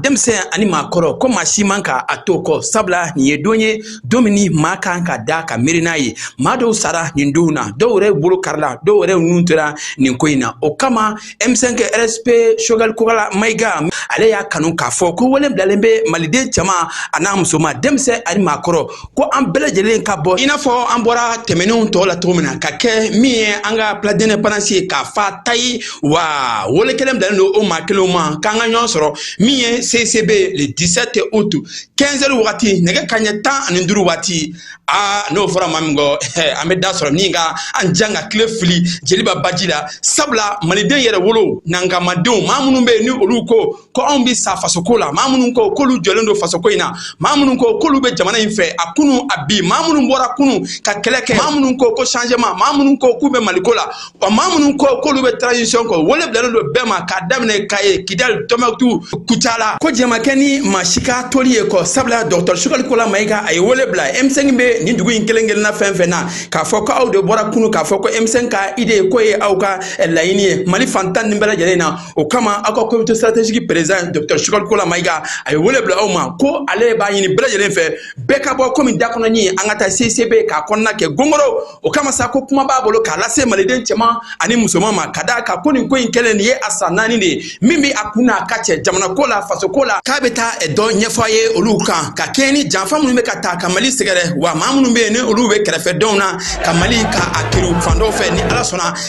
denmisɛn ani maakɔrɔ ko maa si man kan ka to kɔ sabula nin ye don ye don min ni maa kan ka da ka miiri n'a ye maa dɔw sara nin donw na dɔ wɛrɛw bolo karila dɔ wɛrɛw nin tora nin ko in na o kama m5 rfp choguel kokalla mayiga ale y'a kanu k'a fɔ ko wele bilalen bɛ maliden cɛma a n'a musoma denmisɛn ani maakɔrɔ ko an bɛɛ lajɛlen ka bɔ i n'a fɔ an bɔra tɛmɛnenw tɔ la cogo min na ka kɛ min ye an ka place de l'indépendance ye k'a fa tayi wa wele kelen bilalen don o maa kelenw ma k'an ka ɲɔgɔn sɔrɔ min ye cicb le 17 août 15 heures wagati nɛgɛ kaɲɛ tan ani duuru waati aa n'o fɔra maa min kɔ an bɛ da sɔgɔ min ka an jan ka kile fili jeliba baji la sabula maliden yɛrɛwolo nankamadenw maa minnu bɛ yen ni olu ko ko anw bɛ sa fasoko la maa minnu ko k'olu jɔlen don fasoko in na maa minnu ko k'olu bɛ jamana in fɛ a kunu a bi maa minnu bɔra kunu ka kɛlɛ kɛ maa minnu ko ko changement maa minnu ko k'u bɛ maliko la wa maa minnu ko k'olu bɛ transition kɔ wele bilalen don bɛɛ ma k'a daminɛ kayi kidali tumutu kucala ko jɛn ma kɛ ni maa si ka toli ye kɔ sabula dɔgɔtɔrɔ choguel kokalla mayiga a ye wele bila m5 bɛ nin dugu in kelen kelenna fɛn fɛn na k'a fɔ ko aw de bɔra kunu k'a fɔ ko m5 ka idée ko ye aw ka laɲini ye mali fan tan nin bɛɛ lajɛlen na o kama aw ka comité stratégique président docteur Choguel Kokalla Mayiga a ye wele bila aw ma ko ale b'a ɲini bɛɛ lajɛlen fɛ bɛɛ ka bɔ komi dakɔnɔnin an ka taa CICB k'a kɔnɔna kɛ gongoro o kama sa ko kuma b'a bolo k'a lase maliden cɛman ani musoman ma ka d'a kan ko nin ko in kɛlen nin ye a san naani de ye min bɛ a kun n'a kan cɛ jamana ko la faso ko la k'a bɛ taa dɔ ɲɛfɔ a ye olu kan ka kɛɲɛ ni janfa minnu bɛ ka ta ka mali sɛgɛrɛ wa maa minnu bɛ yen ni olu bɛ kɛrɛfɛdenw na ka mali ka a kiriw fan dɔw fɛ ni ala sɔnna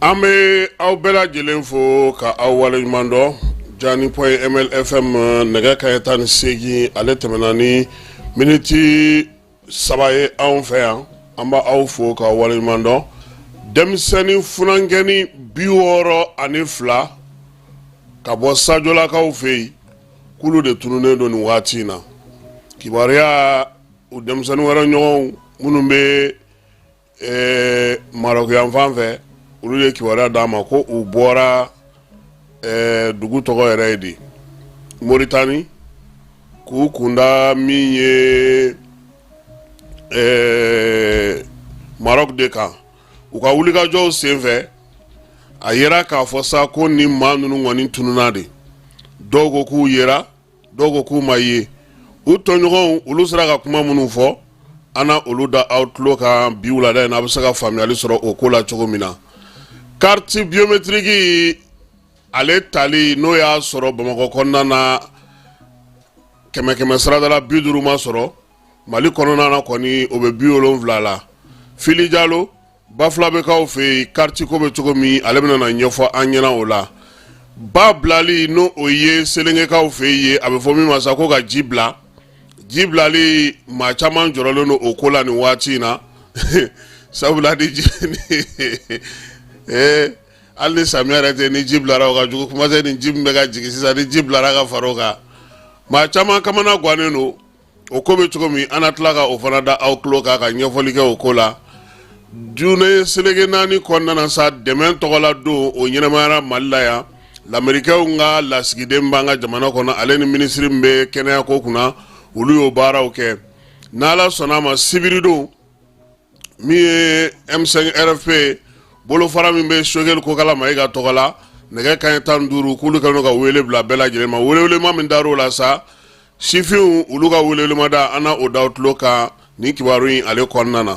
an bɛ aw bɛɛ lajɛlen fo k' aw wale ɲuman dɔn jani point ml fm nɛgɛ kaɲɛ tan ni seegin ale tɛmɛna ni miniti saba ye anw fɛ yan an b' aw fo k' aw wale ɲuman dɔn denmisɛnnin funankɛnin bi wɔɔrɔ ani fila ka bɔ sajolakaw fɛ yen kulu de tununnen don nin waati in na kibaruya u denmisɛnnin wɛrɛ ɲɔgɔnw minnu bɛ marɔku yanfan fɛ olu ye kibaruya d'a ma ko u bɔra dugu tɔgɔ yɛrɛ ye di moritani k'u kunda min ye marɔku de kan u ka wulikajɔw senfɛ a yera k'a fɔ sa ko ni maa ninnu kɔni tununna de dɔw ko k'u yera dɔw ko k'u ma ye u tɔɲɔgɔnw olu sera ka kuma minnu fɔ an na olu da aw tulo kan bi wulada in na a bɛ se ka faamuyali sɔrɔ o ko la cogo min na kariti biyometiriki ale tali n'o y'a sɔrɔ bamakɔ kɔnɔna na kɛmɛ kɛmɛ sarada la bi duuru ma sɔrɔ mali kɔnɔna na kɔni o bɛ bi wolonwula la fili jalo bafulabɛkaw fɛ yen karitiko bɛ cogo min ale bɛna na ɲɛfɔ an ɲɛna o la ba bilali n' o ye selengɛkaw fɛ yen a bɛ fɔ min ma sa ko ka ji bila ji bilali maa caman jɔrɔlen don o ko la nin waati in na sabula di hali samiya yɛrɛ tɛ ni ji bilara o ka jugu kuma tɛ ni ji min bɛ ka jigin sisan ni ji bilara ka fara o kan maa caman kamana gannen don o ko bɛ cogo min an na tila ka o fana da aw tulo kan ka ɲɛfɔli kɛ o ko la diɲɛ seleke naani kɔnɔna na sa dɛmɛ tɔgɔla don o ɲɛnamayara mali la yan lamerikɛnw ka lasigiden b'an ka jamana kɔnɔ ale ni minisiri min bɛ kɛnɛyako kunna olu y'o baaraw kɛ n'ala sɔnna a ma sibiridon min ye M5 RFP bolofara min bɛ Sogɛli Kokala Mayiga tɔgɔ la nɛgɛ kanɲɛ tan ni duuru k'olu kɛlen ka wele bila bɛɛ lajɛlen ma welewelema min dar'o la sa sifinw olu ka welewelemada an na o da aw tulo kan nin kibaru in ale kɔnɔna na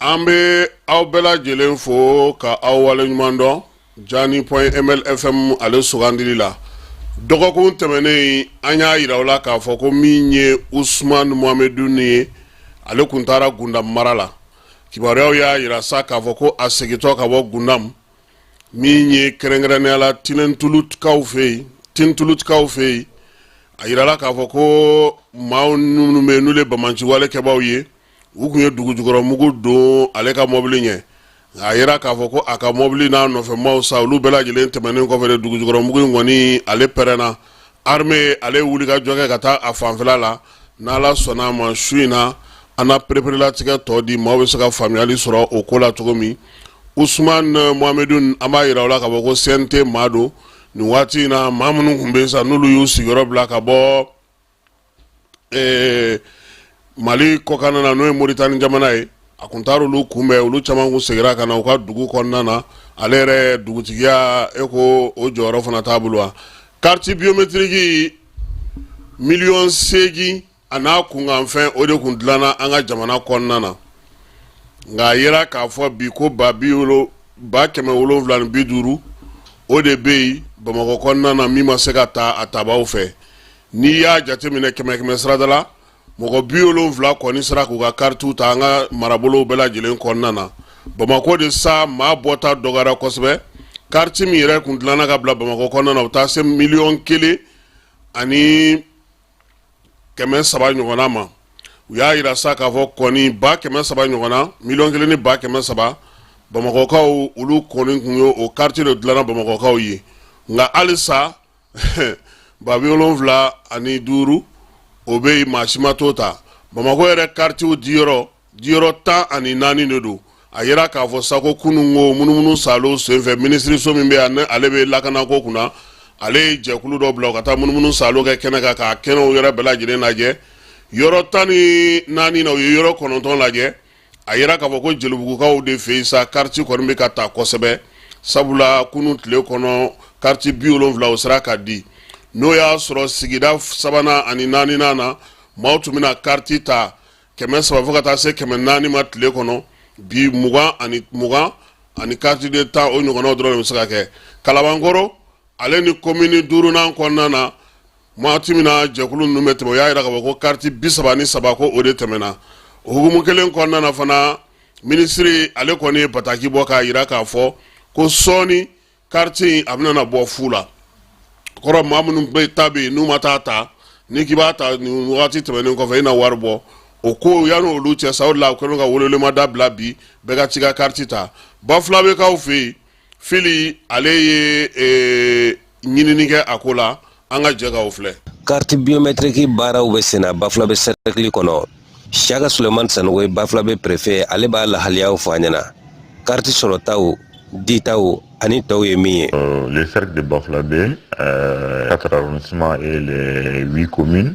an bɛ aw bɛɛ lajɛlen fo ka aw wale ɲuman dɔn jaani point ml fm ale sugandili la dɔgɔkun tɛmɛnen an y'a jira aw la k'a fɔ ko min ye Ousmane Mohamedoun ye ale tun taara gundamu mara la kibaruyaw y'a jira sa k'a fɔ ko a segintɔ ka bɔ gundamu min ye kɛrɛnkɛrɛnnenya la tintɛlutukaw fɛ yen a jirala k'a fɔ ko maa minnu bɛ yen n'olu ye banbaanciwalekɛbaw ye u tun ye dugujukɔrɔ mugu don ale ka mɔbili ɲɛ a yira k'a fɔ ko a ka mɔbili n'a nɔfɛmaaw sa olu bɛɛ lajɛlen tɛmɛnen kɔfɛ de dugujukɔrɔ mugu in kɔni ale pɛrɛnna armée ale ye wulikajɔ kɛ ka taa a fanfɛla la n'ala sɔnna a ma su in na an na pereperelatigɛ tɔ di maaw bɛ se ka faamuyali sɔrɔ o ko la cogo min Ousmane euh, Mohamedou an b'a yira aw la k'a fɔ ko CNT maa don nin waati in na maa minnu tun bɛ yen sa n'olu y'u sigiyɔrɔ bila ka bɔ ee mali kɔkanna na n'o ye moritani jamana ye a tun taara olu kunbɛn olu caman kun seginna ka na u ka dugu kɔnɔna na ale yɛrɛ dugutigiya e ko o jɔyɔrɔ fana t'a bolo wa kariti biyometiriki miliyɔn seegin an'a kunkanfɛn o de tun dilanna an ka jamana kɔnɔna na nka a yira k'a fɔ bi ko ba bi wolo ba kɛmɛ wolonwula ni bi duuru o de bɛ yen bamakɔ kɔnɔna na min ma se ka ta a tabaw fɛ N'i y'a jateminɛ kɛmɛ kɛmɛ sarada la mɔgɔ bi wolonwula kɔni sera k'u ka karitiw ta an ka marabolow bɛɛ lajɛlen kɔnɔna na bamakɔ de sa maa bɔta dɔgɔyara kosɛbɛ kariti min yɛrɛ tun dilanna ka bila bamakɔ kɔnɔna na u taa se miliyɔn kelen ani kɛmɛ saba ɲɔgɔn ma u y'a jira sa k'a fɔ kɔni ba kɛmɛ saba ɲɔgɔn na miliyɔn kelen ni ba kɛmɛ saba bamakɔkaw olu kɔni tun ye o kariti de dilanna bamakɔkaw ye nka halisa ba bi wolonwula ani duuru o bɛ yen maa si ma t'o ta bamakɔ yɛrɛ karitiw diyɔrɔ diyɔrɔ tan ani naani de don a jira k'a fɔ sa ko kunun ko munumunu saalo senfɛ minisiririso min bɛ yan ale bɛ lakanako kunna ale ye jɛkulu dɔ bila ka taa munumunu saalo kɛ kɛnɛ kan k'a kɛnɛw yɛrɛ bɛɛ lajɛlen lajɛ yɔrɔ tan ni naani na u ye yɔrɔ kɔnɔntɔn lajɛ a jira k'a fɔ ko jelibugukaw de fɛ yen sa kariti kɔni bɛ ka ta kosɛbɛ sabula kunun tile kɔnɔ kariti bi wolonwula o sera ka di n'o y'a sɔrɔ sigida sabanan ani naani na maaw tun bɛ na kariti ta kɛmɛ saba fo ka taa se kɛmɛ naani ma tile kɔnɔ bi mugan ani mugan ani kariti den tan o ɲɔgɔnnaw dɔrɔn de bɛ se ka kɛ kalabankɔrɔ ale ni komini duurunan kɔnɔna na Waati min na jɛkulu ninnu bɛ tɛmɛ u y'a jira k'a fɔ ko carte 33 ko o de tɛmɛna o hukumu kelen kɔnɔna na fana minisiri ale kɔni ye bataki bɔ k'a jira k'a fɔ ko sɔɔni carte in a bɛna bɔ fu la o kɔrɔ maa minnu bɛɛ ta bɛ yen n'u ma t'a ta n'i k'i b'a ta nin wagati tɛmɛnen kɔfɛ i na wari bɔ o ko yanni olu cɛ sa o de la u kɛlen don ka welewelemada bila bi bɛɛ ka t'i ka carte ta Bafulabe kaw fɛ yen fili ale ye eh, ɲinini kɛ a ko la an ka jɛ ka o filɛ kariti biyometiriki baaraw bɛ senna bafulabe sɛrɛkili kɔnɔ siyaka suleman sanogo ye bafulabe perefe ale b'a lahaliyaw fɔ an ɲɛna kariti sɔrɔtaw ditaw ani tɔw ye min ye euh, le cercle de bafulabe euh, quatre arrondissements et les huit communes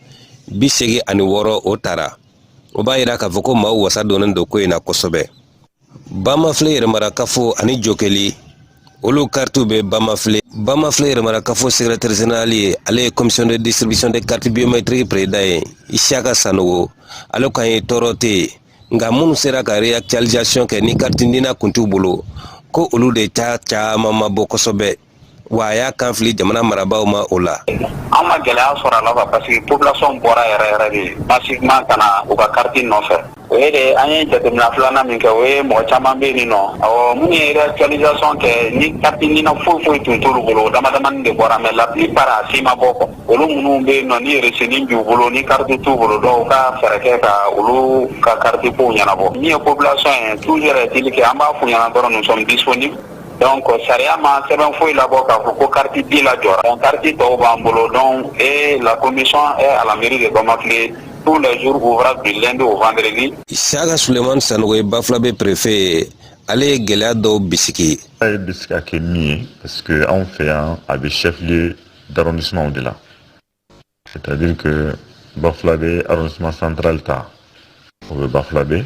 bi seegin ani wɔɔrɔ o tara o b'a yira k'a fɔ ko maaw wasa donnen don ko in na kosɛbɛ bamafile yɛrɛmarakafo ani jokeli olu karitiw bɛ bamafile bamafile yɛrɛmarakafo sekretɛri zenerali ye ale ye commission de distribution de carte biométrique président ye isiyaka sanogo ale kan ye tɔɔrɔ tɛ yen nka minnu sera ka réactualisation kɛ ni carte nina kun t'u bolo ko olu de ca caman ma bɔ kosɛbɛ Wa a y'a kan fili jamana marabaaw ma o la. An ma gɛlɛya sɔrɔ a la quoi parce que population bɔra yɛrɛ yɛrɛ de massivement ka na u ka carte nɔfɛ. O ye de an ye jateminɛ filanan min kɛ, o ye mɔgɔ caman bɛ yen nɔ, awɔ minnu ye réactualisation kɛ ni carte nina foyi foyi tun t'olu bolo, o damadamanin de bɔra mais la plupart a si ma bɔ quoi. Olu minnu bɛ yen nɔ ni resinin b'u bolo ni carte t'u bolo donc u ka fɛɛrɛ kɛ ka olu ka carte kow ɲɛnabɔ. Min ye population ye toujours est-il que an b'a f'u ɲɛna dɔrɔn nous sommes disponibles. Dɔn kɔ sariya ma sɛbɛn foyi labɔ k'a fɔ ko kati bin la jɔ kati tɔw b'an bolo dɔn ee la ko nisɔn ala miiri de bama tile tu la zurufora bi don wvri sa ka soleman san ye ba fila bɛ perefe ye ale ye gɛlɛya dɔw bisigi a ye bɛ se ka kɛ min ye parce que anw fɛ yan a bɛ shɛfiye daronsimaw de la sari ba fila bɛ santali ta o bɛ ba fila bɛ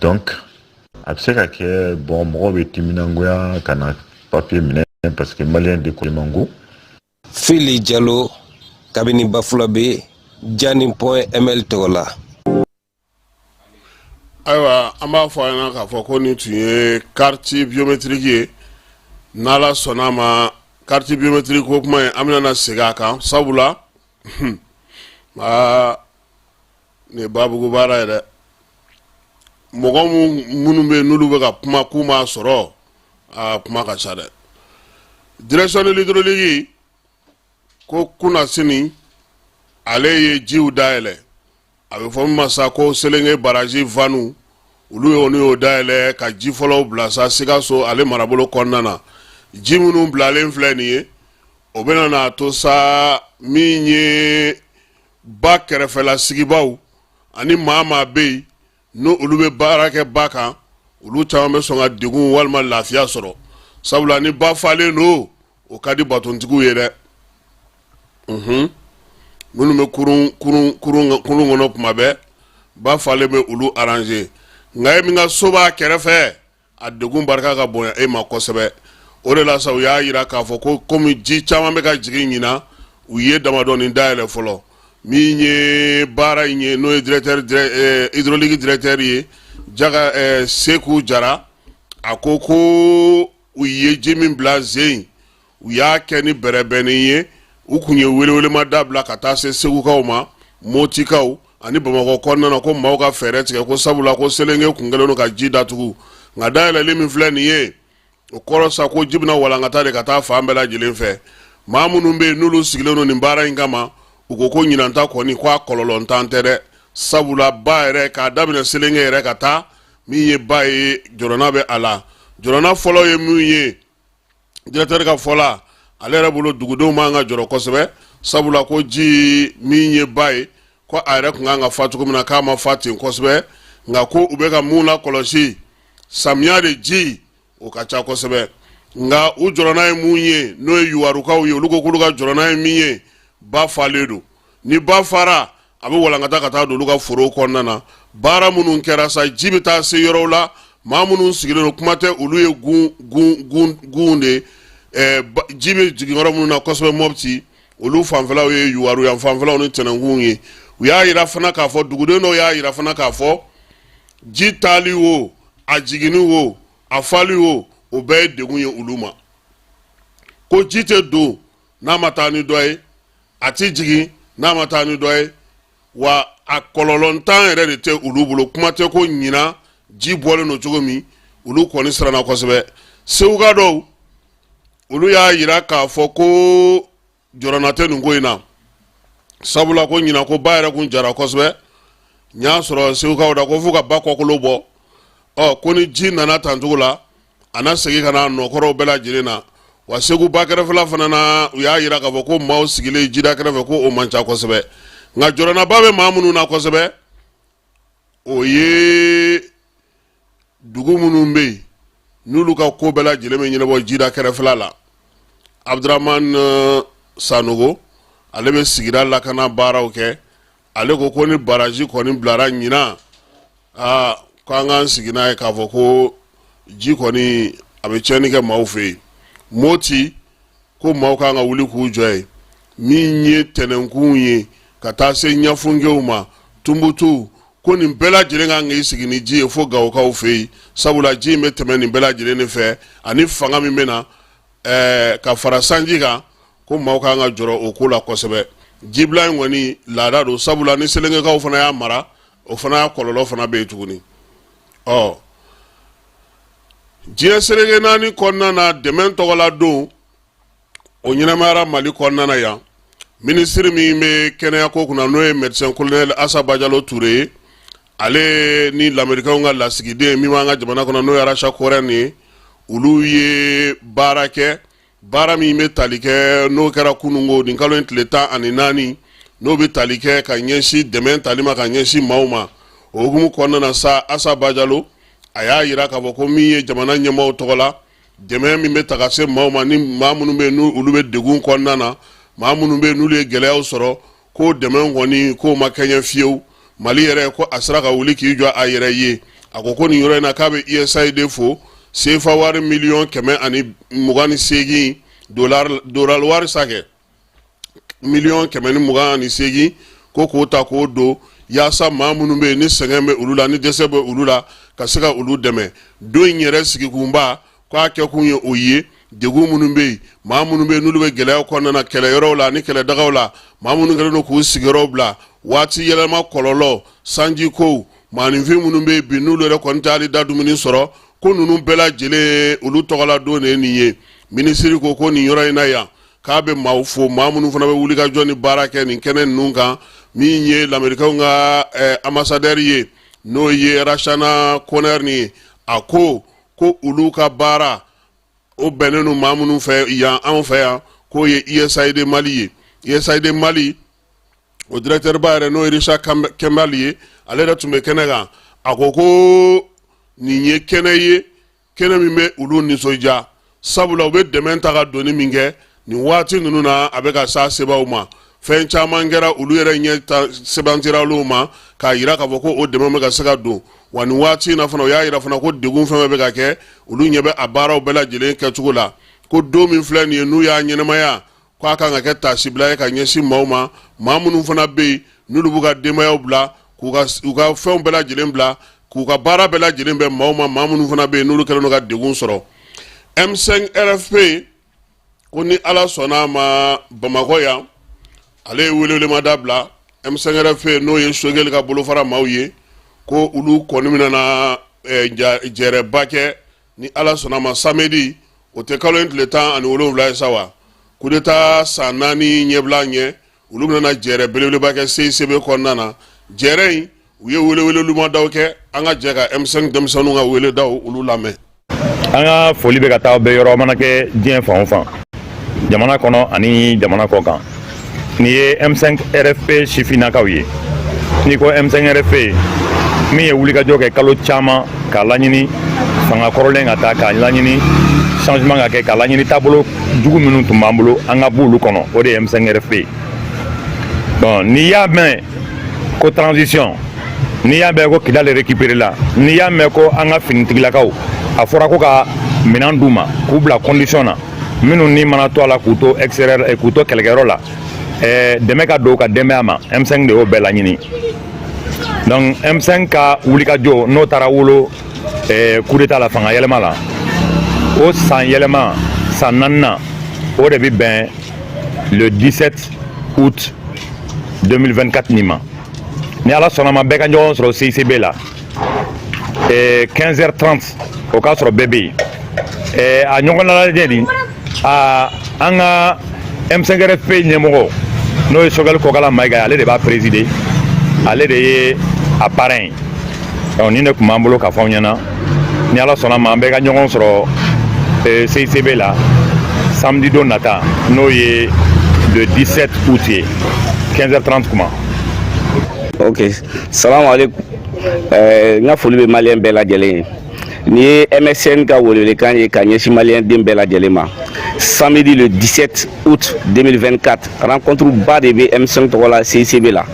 donc a bɛ se ka kɛ bɔn mɔgɔw bɛ timinangoya ka na papiye minɛ parce que maliyɛn de ko man go fili jalo kabini bafulabɛ jani point ml tɔgɔ la ayiwa an b'a fɔ a ɲɛna k'a fɔ ko nin tun ye kariti biometiriki ye n'ala sɔnna ma kariti biometiriki ko kuma in an bɛna segin a kan sabula aa nin ye babugu baara ye dɛ mɔgɔ minnu bɛ yen n'olu bɛ ka kuma k'u m'a sɔrɔ aa kuma ka ca dɛ direction de l'hydraulique ko kunnasini ale ye jiw dayɛlɛ a bɛ fɔ min ma sa ko selenge barazi vanu olu ye olu y'o dayɛlɛ ka ji fɔlɔw bila sa sikaso ale marabolo kɔnɔna na ji minnu bilalen filɛ nin ye o bɛna n'a to sa min ye ba kɛrɛfɛla sigibaaw ani maa maa bɛ yen n' olu bɛ baara kɛ ba kan olu caman bɛ sɔn ka degun walima lafiya sɔrɔ sabula ni ba falen don o ka di batontigiw ye dɛ minnu bɛ kurun kɔnɔ kuma bɛɛ ba falen bɛ olu arranger nka e min ka so b'a kɛrɛfɛ a degun barika ka bonya e ma kosɛbɛ o de la sa u y'a yira k'a fɔ ko komi ji caman bɛ ka jigin ɲinan u ye damadɔnin dayɛlɛ fɔlɔ min ye baara in ye n'o ye hydraulique directeur ye jaka seku jara a ko ko u ye ji min bila ze in u y'a kɛ ni bɛrɛbɛnni ye u kun ye welewelema da bila ka taa se segukaw ma motikaw ani bamakɔ kɔnɔna na ko maaw ka fɛɛrɛ tigɛ ko sabula ko selenge kun kɛlen don ka ji datugu nka dayɛlɛli min filɛ nin ye o kɔrɔ sa ko ji bɛna walankata de ka taa fan bɛɛ lajɛlen fɛ maa minnu bɛ yen n'olu sigilen don nin baara in kama u ko ko ɲinanta kɔni ko a kɔlɔlɔntan tɛ dɛ sabula ba yɛrɛ k'a daminɛ selenge yɛrɛ ka taa min ye ba ye jɔrɔna bɛ a la jɔrɔna fɔlɔ ye min ye directeur ka fɔ la ale yɛrɛ bolo dugudenw man ka jɔrɔ kosɛbɛ sabula ko ji min ye ba ye ko a yɛrɛ kun kan ka fa cogo min na k'a ma fa ten kosɛbɛ nka ko u bɛ ka min lakɔlɔsi samiya de ji o ka ca kosɛbɛ nka u jɔrɔna ye mun ye n'o ye yuwarukaw ye olu ko k'olu ka jɔrɔna ye min ye ba falen don ni ba fara a bɛ walankata ka taa don olu ka foro kɔnɔna na baara minnu kɛra sa ji bɛ taa se yɔrɔw la maa minnu sigilen don kuma tɛ olu ye gun de ye ji bɛ jigin yɔrɔ minnu na kosɛbɛ mɔbiti olu fanfɛlaw ye yuwaru yan fanfɛlaw ni tɛnɛnkun ye u y'a yira fana k'a fɔ duguden dɔw y'a yira fana k'a fɔ ji taali wo a jiginni wo a fali wo o bɛɛ ye degun ye olu ma ko ji tɛ don n'a ma taa ni dɔ ye a tɛ jigin n'a ma taa ni dɔ ye wa a kɔlɔlɔntan yɛrɛ de tɛ olu bolo kuma tɛ ko ɲinan ji bɔlen don cogo min olu kɔni siranna kosɛbɛ seguka dɔw olu y'a yira k'a fɔ ko jɔrɔna tɛ nin ko in na sabula ko ɲinan ko ba yɛrɛ kun jara kosɛbɛ n y'a sɔrɔ segukaw da ko fo ka ba kɔkolo bɔ ɔ ko ni ji nana tancogo la a na segin ka na a nɔkɔrɔw bɛɛ lajɛlen na wa segu ba kɛrɛfɛla fana na u y'a yira k'a fɔ ko maaw sigilen jida kɛrɛfɛ ko o man ca kosɛbɛ nka jɔrɔnaba bɛ maa minnu na kosɛbɛ o ye dugu minnu bɛ yen n'olu ka ko bɛɛ lajɛlen bɛ ɲɛnabɔ jida kɛrɛfɛla la abudurahman eh, sanogo ale bɛ sigida lakana baaraw kɛ ale ko ko ni baraji kɔni bilara ɲinan aa ko an k'an sigi n'a ye k'a fɔ ko ji kɔni a bɛ tiɲɛni kɛ maaw fɛ yen moti ko maaw kan ka wuli k'u jɔ ye min ye tɛnɛnkun ye ka taa se ɲafunkew ma tumbutu ko nin bɛɛ lajɛlen kan k'i sigi ni ji ye fo gawokaw fɛ yen sabula ji in bɛ tɛmɛ nin bɛɛ lajɛlen de fɛ ani fanga min bɛ na ɛɛ ka fara sanji kan ko maaw ka kan ka jɔrɔ o ko la kosɛbɛ jibila in kɔni laada don sabula ni selengekaw fana y'a mara o fana y'a kɔlɔlɔ fana bɛ yen tuguni ɔ diɲɛ seleke naani kɔnɔna na dɛmɛ tɔgɔla don o ɲɛnamayara mali kɔnɔna na yan minisiri min bɛ kɛnɛyako kunna n'o ye médecin colonel Asa Bajalo Ture ye ale ni lamerikaw ka lasigiden min b'an ka jamana kɔnɔ n'o ye Rachna Korhonen ye olu ye baara kɛ baara min bɛ tali kɛ n'o kɛra kununko nin kalo in tile tan ani naani n'o bɛ tali kɛ ka ɲɛsin dɛmɛ tali ma ka ɲɛsin maaw ma o hukumu kɔnɔna na sa asa bajalo a y'a yira k'a fɔ ko min ye jamana ɲɛmaaw tɔgɔ la dɛmɛ min bɛ taga se maaw ma ni maa minnu bɛ yen n'olu bɛ degun kɔnɔna na maa minnu bɛ yen n'olu ye gɛlɛyaw sɔrɔ ko dɛmɛ kɔni k'o ma kɛɲɛ fiyewu mali yɛrɛ ko a sera ka wuli k'i jɔ a yɛrɛ ye a ko ko nin yɔrɔ in na k'a bɛ usaid fo sefa wari miliyɔn kɛmɛ ani mugan ni seegin dolari wari sa kɛ miliyɔn kɛmɛ ni mugan ani seegin ko k'o ta k'o don yaasa maa minnu bɛ yen ni sɛgɛn bɛ olu la ni dɛsɛ bɛ olu la ka se ka olu dɛmɛ don in yɛrɛ sigikunba k'a kɛ kun ye o ye degun minnu bɛ yen maa minnu bɛ yen n'olu bɛ gɛlɛya kɔnɔna na kɛlɛyɔrɔw la ni kɛlɛdagaw la maa minnu kɛlen don k'u sigiyɔrɔw bila waati yɛlɛma kɔlɔlɔ sanjikow maaninfin minnu bɛ yen bi n'olu yɛrɛ kɔni tɛ hali da dumuni sɔrɔ ko ninnu bɛɛ lajɛlen olu tɔgɔla don de nin ye minisiri ko ko nin yɔrɔ in na yan k'a bɛ maaw fo maa minnu fana bɛ wuli ka jɔ ni baara kɛ nin kɛnɛ ninnu kan min ye lamerikaw ka eh, anbasadɛri ye n'o ye Rachna Korhonen ye a ko ko olu ka baara o bɛnnen don maa minnu fɛ yan anw fɛ yan k'o ye usaid mali ye usaid mali o directeur ba yɛrɛ n'o ye richard kimball ye ale yɛrɛ tun bɛ kɛnɛ kan a ko ko nin ye kɛnɛ ye kɛnɛ min bɛ olu nisɔndiya sabula u bɛ dɛmɛ ta ka doni min kɛ nin waati ninnu na a bɛ ka s'a sebaw ma fɛn caman kɛra olu yɛrɛ ɲɛ sɛbɛntiyara olu ma k'a jira k'a fɔ ko o dɛmɛ bɛ ka se ka don wa nin waati in na fana o y'a jira fana ko degun fɛn bɛ ka kɛ olu ɲɛ bɛ a baaraw bɛɛ lajɛlen kɛcogo la ko don min filɛ nin ye n'u y'a ɲɛnɛmaya ko a kan ka kɛ taasibila ye ka ɲɛsin maaw ma maa minnu fana bɛ yen n'olu b'u ka denbayaw bila k'u ka u ka fɛnw bɛɛ lajɛlen bila k'u ka baara bɛɛ lajɛlen bɛ maaw ma maa minnu fana bɛ yen n'olu kɛlen don ka degun sɔrɔ m5 rfp ko ni ala sɔnna a ma bamakɔ yan ale ye welewelemada bila m5 rfp n'o ye sogɛli ka bolofara maaw ye ko olu kɔni bɛna na eh, jɛrɛba kɛ ni ala sɔnna a ma samedi août kalo in tile tan ani wolonwula ye sa wa kudeta san naani ɲɛbila ye olu bɛna jɛrɛ belebeleba kɛ CICB kɔnɔna na jɛrɛ in u ye welewelelumadaw kɛ an ka jɛ ka M5 denmisɛnninw ka weledaw olu lamɛn an ka foli bɛ ka taa aw bɛɛ yɔrɔ a mana kɛ diɲɛ fan o fan jamana kɔnɔ ani jamana kɔkan nin ye M5 RFP sifinnakaw ye n'i ko M5 RFP min ye wulikajɔ kɛ kalo caman k'a laɲini fanga kɔrɔlen ka taa k'a laɲini changement ka kɛ k'a laɲini taabolo jugu minnu tun b'an bolo an ka b'olu kɔnɔ o de ye m5 rfp bon n'i y'a mɛn ko transition n'i y'a mɛn ko kidali récupéré la n'i y'a mɛn ko an ka finitigilakaw a fɔra ko ka minɛn d'u ma k'u bila condition na minnu ni mana to a la k'u to extérieur eh, k'u to kɛlɛkɛyɔrɔ la eh, dɛmɛ ka don u ka denbaya ma m5 de y'o bɛɛ laɲini donc m5 ka wulikajɔ n'o taara wolo eh, kudeta la fanga yɛlɛma la o san yɛlɛma san naaninan o de bɛ bɛn le 17 août 2024 nin ma ni ala sɔnna ma bɛɛ ka ɲɔgɔn sɔrɔ CICB la eh, 15h30 o k'a sɔrɔ bɛɛ bɛ yen eh, a ɲɔgɔn lalajɛ nin aa an ka m5 rfp ɲɛmɔgɔ n'o ye sogɛli kɔkala mayiga ye ale de b'a présider ale de ye a parrain ye donc nin de tun b'an bolo k'a fɔ aw ɲɛna ni ala sɔnna ma an bɛɛ ka ɲɔgɔn sɔrɔ eh, cicb la samedi don nata n'o ye le 17 août ye 15 h 30 kuma ok salamu aleykum n ka foli bɛ maliyɛn bɛɛ lajɛlen ye Nin ye M5 ka welewelekan ye ka ɲɛsin maliyɛn den bɛɛ lajɛlen ma samedi le 17 août 2024 rencontre ba de bɛ M5 tɔgɔ la CICB la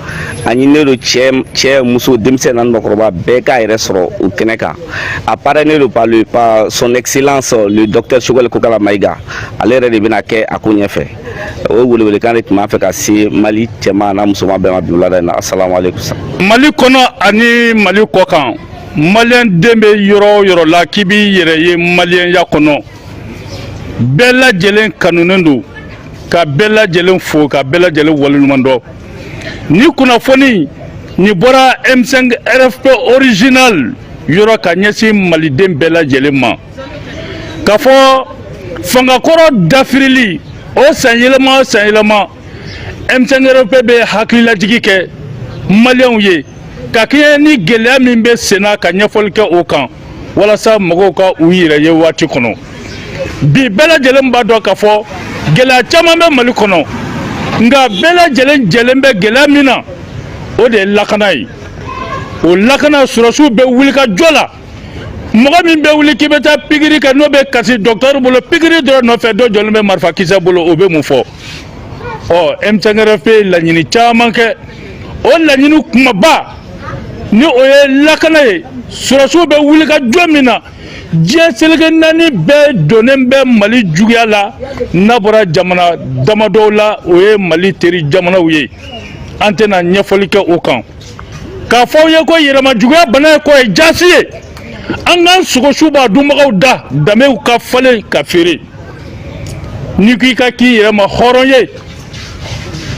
a ɲininen don cɛ muso denmisɛn n'a mɔgɔkɔrɔba bɛɛ k'a yɛrɛ sɔrɔ o kɛnɛ kan a parrainé don par son excellence le docteur Choguel Kokala Maïga ale yɛrɛ de bɛna kɛ a ko ɲɛfɛ o welewelekan de tun b'a fɛ ka se Mali cɛman n'a musoman bɛɛ ma bi wulada in na asalaamaaleykum Mali kɔnɔ ani Mali kɔkan maliyɛn den bɛ yɔrɔ o yɔrɔ la k'i b'i yɛrɛ ye maliyɛnya kɔnɔ bɛɛ lajɛlen kanunen don ka bɛɛ lajɛlen fo ka bɛɛ lajɛlen waleɲuman dɔn ni kunnafoni nin bɔra m5 rfp original yɔrɔ ka ɲɛsin maliden bɛɛ lajɛlen ma k'a fɔ fangakɔrɔ dafirili o san yɛlɛma o san yɛlɛma m5 rfp bɛ hakililajigi kɛ maliyɛnw ye ka kɛɲɛ ni gɛlɛya min bɛ senna ka ɲɛfɔli kɛ o kan walasa mɔgɔw ka u yɛrɛ ye waati kɔnɔ bi bɛɛ lajɛlen b'a dɔn k'a fɔ gɛlɛya caman bɛ mali kɔnɔ nka bɛɛ lajɛlen jɛlen bɛ gɛlɛya min na o de ye lakana ye o lakana sɔrɔdasiw bɛ wuli ka jɔ la mɔgɔ min bɛ wuli k'i bɛ taa pikiri kɛ n'o bɛ kasi dɔgɔtɔrɔ bolo pikiri dɔrɔn nɔfɛ dɔ jɔlen bɛ marifakisɛ bolo o bɛ mun fɔ ɔ m5 rfp ye laɲini caman kɛ o laɲini kumaba ni o ye lakana ye sɔrɔdasiw bɛ wuli ka jɔ min na diɲɛ seleke naani bɛɛ donnen bɛ mali juguya la n'a bɔra jamana damadɔw la o ye mali teri jamanaw ye an tɛna ɲɛfɔli kɛ o kan k'a fɔ aw ye ko yɛrɛmajuguya bana ye kɔ ye jaasi ye an k'an sogosu b'a dunbagaw da danbew ka falen ka feere n'i ko i ka k'i yɛrɛ ma hɔrɔn ye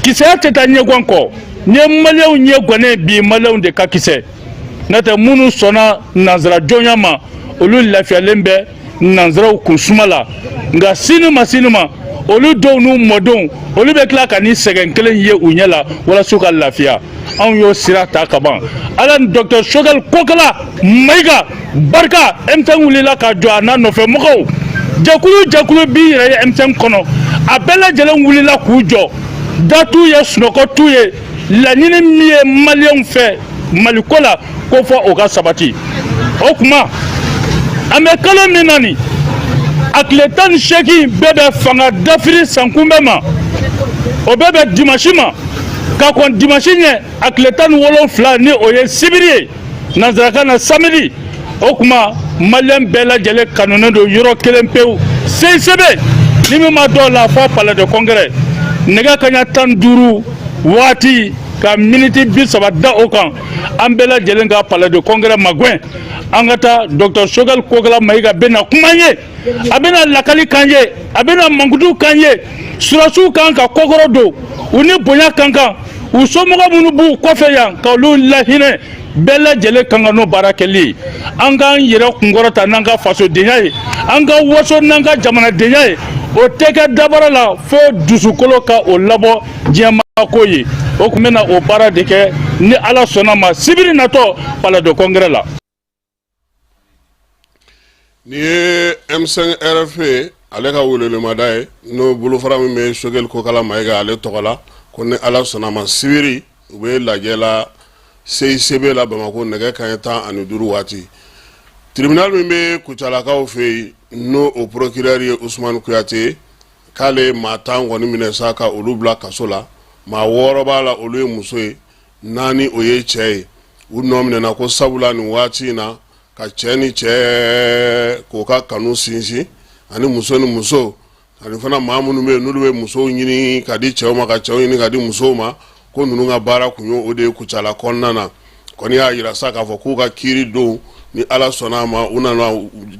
kisɛya tɛ taa ɲɛgan kɔ n'i ye maliyɛnw ɲɛgannen bi maliyɛnw de ka kisɛ n'o tɛ minnu sɔnna nanzara jɔnya ma olu lafiyalen bɛ nanzaraw kun suma la nka sini ma sini ma olu denw n'u mɔdenw olu bɛ tila ka nin sɛgɛn kelen ye u ɲɛ la walasa u ka lafiya anw y'o sira ta ka ban ala ni docteur choguel kokala maïga barika m5 wulila ka jɔ a n'a nɔfɛ mɔgɔw jɛkulu jɛkulu b'i yɛrɛ ye m5 kɔnɔ a bɛɛ lajɛlen wulila k'u jɔ da t'u ye sunɔgɔ t'u ye laɲini min ye maliyɛnw fɛ maliko la ko fo o ka sabati o tuma an bɛ kalo min na nin a tile tan ni seegin bɛ bɛn fanga dafiri sankunbɛn ma o bɛ bɛn dimasi ma ka kɔn dimasi ɲɛ a tile tan ni wolonfila ni o ye sibiri ye nansarakan na samedi o tuma maliyɛn bɛɛ lajɛlen kanunen don yɔrɔ kelen pewu CICB ni min maa dɔw la fɔ palais de congrès nɛgɛ kanɲɛ tan duuru waati ka miniti bi saba da o kan an bɛɛ lajɛlen ka palais de congrès magɛn an ka taa docteur Choguel Kokala Maïga bɛna kuma ye a bɛna lakali k'an ye a bɛna mankutu k'an ye sɔrɔdasiw k'an ka kɔkɔrɔdon u ni bonya ka kan u somɔgɔ minnu b'u kɔfɛ yan ka olu lahinɛ bɛɛ lajɛlen ka kan n'o baara kɛli ye an k'an yɛrɛ kunkɔrɔta n'an ka fasodenya ye an ka waso n'an ka jamanadenya ye o tɛ kɛ dabara la fo dusukolo ka o labɔ diɲɛmaako ye o tun bɛna o baara de kɛ ni ala sɔnna ma sibiri natɔ palais de congrès la Nin ye M5 RFP ale ka welelemada ye n'o bolofara min bɛ Choguel Kokala Maïga ale tɔgɔ la ko ni ala sɔnna a ma sibiri u bɛ lajɛ la CICB la bamakɔ nɛgɛ kanɲɛ tan ani duuru waati tribunal min bɛ kucalakaw fɛ yen n'o o procureur ye usumani kuyate k'ale maa tan kɔni minɛ sa ka olu bila kaso la maa wɔɔrɔ b'a la olu ye muso ye naani o ye cɛ ye u nɔ minɛna ko sabula nin waati in na ka cɛ ni cɛ k'o ka kanu sinsin ani muso ni muso ani fana maa minnu bɛ yen n'olu bɛ musow ɲini ka di cɛw ma ka cɛw ɲini ka di musow ma ko ninnu ka baara tun ye o de ye kucala kɔnɔna na kɔni y'a jira sa k'a fɔ k'u ka kiri don ni ala sɔnna a ma u nana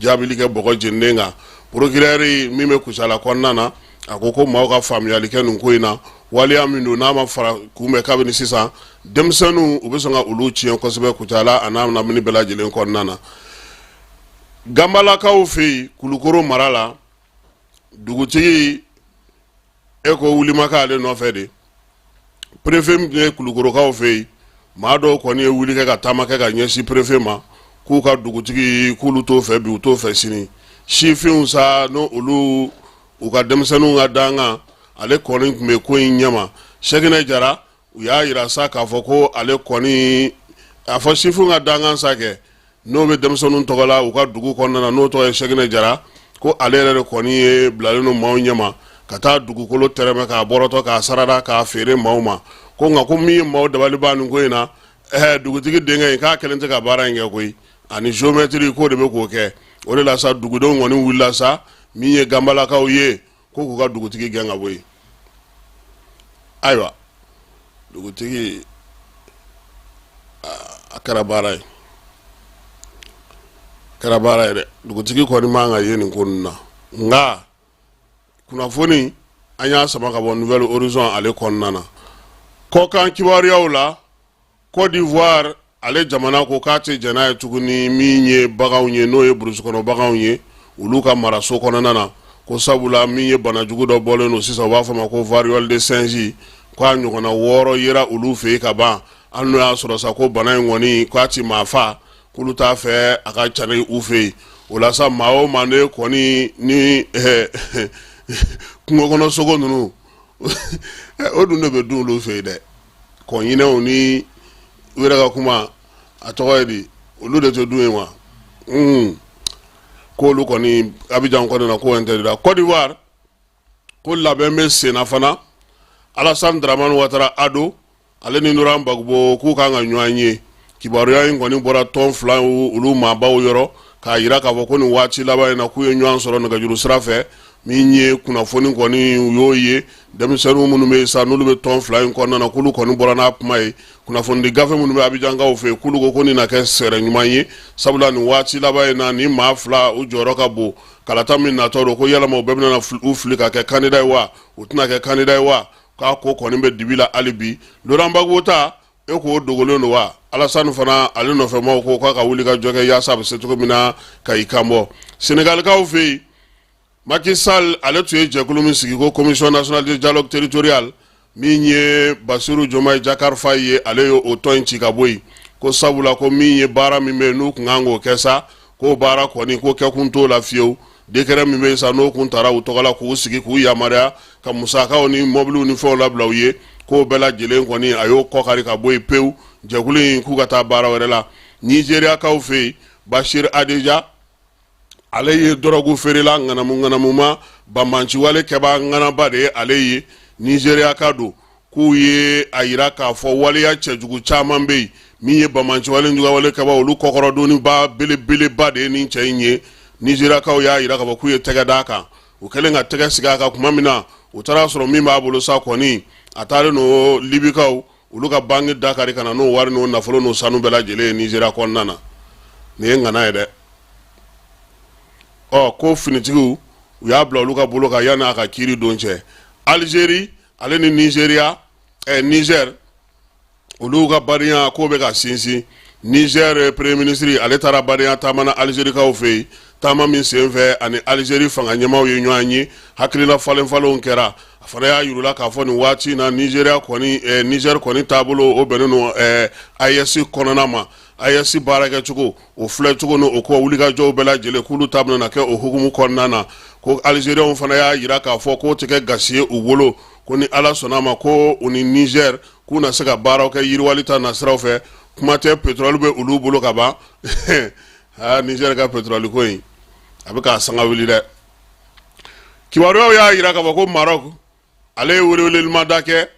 jaabili kɛ bɔgɔ jeninen kan procureur min bɛ kucala kɔnɔna na a ko ko maaw ka faamuyali kɛ nin ko in na waleya min don n'a ma fara kunbɛn kabini sisan denmisɛnninw u bɛ sɔn ka olu tiɲɛ kosɛbɛ kucala a n'a lamini bɛɛ lajɛlen kɔnɔna na ganbalakaw fɛ yen kulukoro mara la dugutigi e ko wulimakan ale nɔfɛ de perefe min ye kulukorokaw fɛ yen maa dɔw kɔni ye wuli kɛ ka taama kɛ ka ɲɛsin perefe ma k'u ka dugutigi k'olu t'o fɛ bi u t'o fɛ sini sifinw sa n' olu u ka denmisɛnninw ka dankan ale kɔni tun bɛ ko in ɲɛma sɛkinɛ jara u y'a jira sa k'a fɔ ko ale kɔni a fɔ sifinw ka dankan sa kɛ n'o bɛ denmisɛnninw tɔgɔ la u ka dugu kɔnɔna na n'o tɔgɔ ye sɛkinɛ jara ko ale yɛrɛ de kɔni ye bilalen ni maaw ɲɛma ka taa dugukolo tɛrɛmɛ k'a bɔrɔtɔ k'a sarada k'a feere maaw ma ko nka ko min ye maaw dabali ban nin ko in na ɛ dugutigi denkɛ in k'a kelen tɛ ka baara in kɛ koyi ani géomètre k'o de bɛ k'o kɛ o de la sa dugudenw kɔni wulila sa min ye ganbalakaw ye Ko k'u ka dugutigi gɛn ka bɔ yen. Ayiwa dugutigi a kɛra baara ye a kɛra baara ye dɛ dugutigi kɔni man ka ye nin ko ninnu na nka kunnafoni an y'a sama ka bɔ Nouvel Horizon ale kɔnɔna na kɔkan kibaruyaw la Côte d'Ivoire ale jamana ko k'a tɛ jɛn n'a ye tuguni min ye baganw ye n'o ye burusukɔnɔ baganw ye olu ka maraso kɔnɔna na ko sabula min ye bana jugu dɔ bɔlen don sisan u b'a fɔ ma ko variole de singe k'a ɲɔgɔnna wɔɔrɔ yera olu fɛ yen ka ban hali n'o y'a sɔrɔ sa ko bana in kɔni k'a tɛ maa fa k'olu t'a fɛ a ka cari u fɛ yen o la sa maa o maa ne kɔni ni eh, kungo kɔnɔ sogo ninnu o dun de bɛ dun olu fɛ yen dɛ kɔɲinɛw ni u yɛrɛ ka kuma a tɔgɔ ye di olu de tɛ dun yen wa un k'olu kɔni Abidjan kɔnɔna ko interdira Côte d'Ivoire ko labɛn bɛ senna fana Alassane Dramane Ouattara Ado ale ni Laurent Gbagbo k'u kan ka ɲɔgɔn ye Kibaruya in kɔni bɔra tɔn fila olu maabaw yɔrɔ k'a jira k'a fɔ ko nin waati laban in na k'u ye ɲɔgɔn sɔrɔ nɛgɛjuru sira fɛ min ye kunnafoni kɔni u y'o ye denmisɛnninw minnu bɛ yen sa n'olu bɛ tɔn fila in kɔnɔna na k'olu kɔni bɔra n'a kuma ye kunnafonidi gafe minnu bɛ Abidjankaw fɛ k'olu ko nin na kɛ sɛrɛ ɲuman ye sabula nin waati laban in na nin maa fila u jɔyɔrɔ ka bon kalata min natɔ don ko yalama u bɛɛ bɛna u fili ka kɛ candidat ye wa u tɛna kɛ candidat ye wa k'a ko kɔni bɛ dibi la hali bi Laurent Gbagbo ta E k'o dogolen don wa Alassane fana ale nɔfɛmaw ko k'a ka wuli ka jɔ kɛ yaasa a bɛ se cogo min na ka i kan bɔ Sénégalikaw fɛ yen Macky Sall ale tun ye jɛkulu min sigi ko Commission nationale de dialogue territorial min ye Bassirou Diomaye Diakhar Faye ye ale ye o tɔn in ci ka bɔ yen ko sabula ko min ye baara min bɛ yen n'u tun kan k'o kɛ sa k'o baara kɔni ko kɛ kun t'o la fiyewu décret min bɛ yen sa n'o tun taara u tɔgɔ la k'u sigi k'u yamaruya ka musakaw ni mɔbiliw ni fɛnw labila u ye k'o bɛɛ lajɛlen kɔni a y'o kɔkari ka bɔ yen pewu jɛkulu in k'u ka taa baara wɛrɛ la nizeriyakaw fɛ yen Bashir Hadejia ale ye dɔrɔgu feerela ŋanamu ŋanamuma banbanciwale kɛbaa ŋanaba de ye ale ye nizeriyaka don k'u ye a jira k'a fɔ waleya cɛjugu caman bɛ yen min ye banbanciwale jugawale kɛbaa olu kɔkɔrɔdonniba belebeleba de ye nin cɛ in ye nizeriyakaw y'a jira k'a fɔ k'u ye tɛgɛ d'a kan u kɛlen ka tɛgɛ sigi a kan tuma min na u taara sɔrɔ min b'a bolo sa kɔni a taalen don libikaw olu ka banki da kari ka na n'o wari n'o nafolo n'o sanu bɛɛ lajɛlen ye nizeriya kɔnɔna na nin ye ŋana ye dɛ ɔ ko finitigiw u y'a bila olu ka bolo kan yanni a ka kiiri don cɛ alizeri ale ni nizeria eh, niger olu ka badenya k'o bɛ ka sinsin niger eh, premier ministre ale taara badenya taama na alizerikaw fɛ yen taama min senfɛ a ni alizeri fanga ɲɛmaw ye ɲɔgɔn ye hakilila falenfalenw kɛra a fana y'a yirula k'a fɔ nin waati na nizeria kɔni eh, niger kɔni taabolo o bɛnnen don eh, AES kɔnɔna ma AES baarakɛcogo o filɛcogo ni o ko wulikajɔw bɛɛ lajɛlen k'olu ta bɛna kɛ o hukumu kɔnɔna na ko alizeriyaw fana y'a yira k'a fɔ k'o tɛ kɛ gasi ye u bolo ko ni ala sɔnna a ma ko u ni nizɛri k'u na se ka baaraw kɛ yiriwali ta nasiraw fɛ kuma tɛ petroli bɛ olu bolo ka ban aa nizɛri ka petroli ko in a bɛ k'a sanga wuli dɛ kibaruyaw y'a yira k'a fɔ ko marɔku ale ye welewelelima da kɛ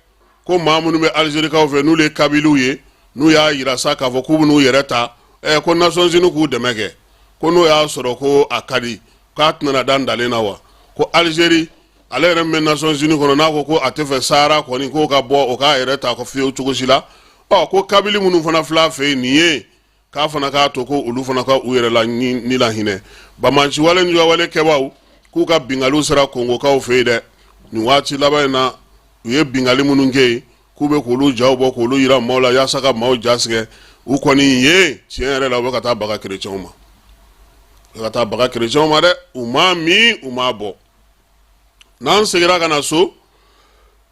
ko maa minnu bɛ alizerikaw fɛ n'olu ye kabiliw ye n'u y'a yira sa k'a fɔ k'u bɛn'u yɛrɛ ta ɛ ko nasɔnsini k'u dɛmɛ kɛ ko n'o y'a sɔrɔ ko a ka di k'a tɛna da dalen na wa ko alizeri ale yɛrɛ min bɛ nasɔnsini kɔnɔ n'a ko ko a tɛ fɛ sahara kɔni k'o ka bɔ o k'a yɛrɛ ta ko fiyewu cogo si la ɔ ko kabili minnu fana filɛ a fɛ yen nin ye k'a fana k'a to ko olu fana ka u yɛrɛ la ni la hinɛ banbanciwale ni juguyawale kɛbaaw k'u ka binkaliw sera kongokaw fɛ yen dɛ nin waati laban in na u ye binkali minnu kɛ yen k'u bɛ k'olu jaw bɔ k'olu yira maaw la yaasa ka maaw jatigɛ u kɔni ye tiɲɛ yɛrɛ la u bɛ ka taa baga kerecɛnw ma u bɛ ka taa baga kerecɛnw ma dɛ u m'a min u m'a bɔn n'an seginna ka na so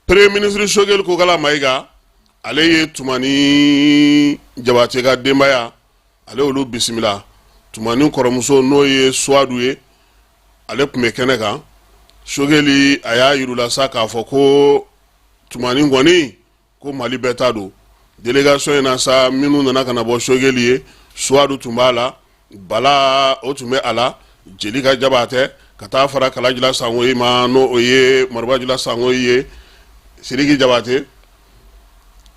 premier ministre sogɛli kokala mayiga ale ye tumani jabatɛ ka denbaya ale olu bisimila tumani kɔrɔmuso n'o ye suwadu ye ale tun bɛ kɛnɛ kan sogɛli a y'a yir'u la sa k'a fɔ ko tumani kɔni ko mali bɛɛ ta don delegasɔn in na sa minnu nana ka na bɔ sogɛli ye suwadu tun b'a la bala o tun bɛ a la jelika jabatɛ ka taa fara kalajila sangoyi ma n'o ye marabajila sangoyi ye siriki jabatɛ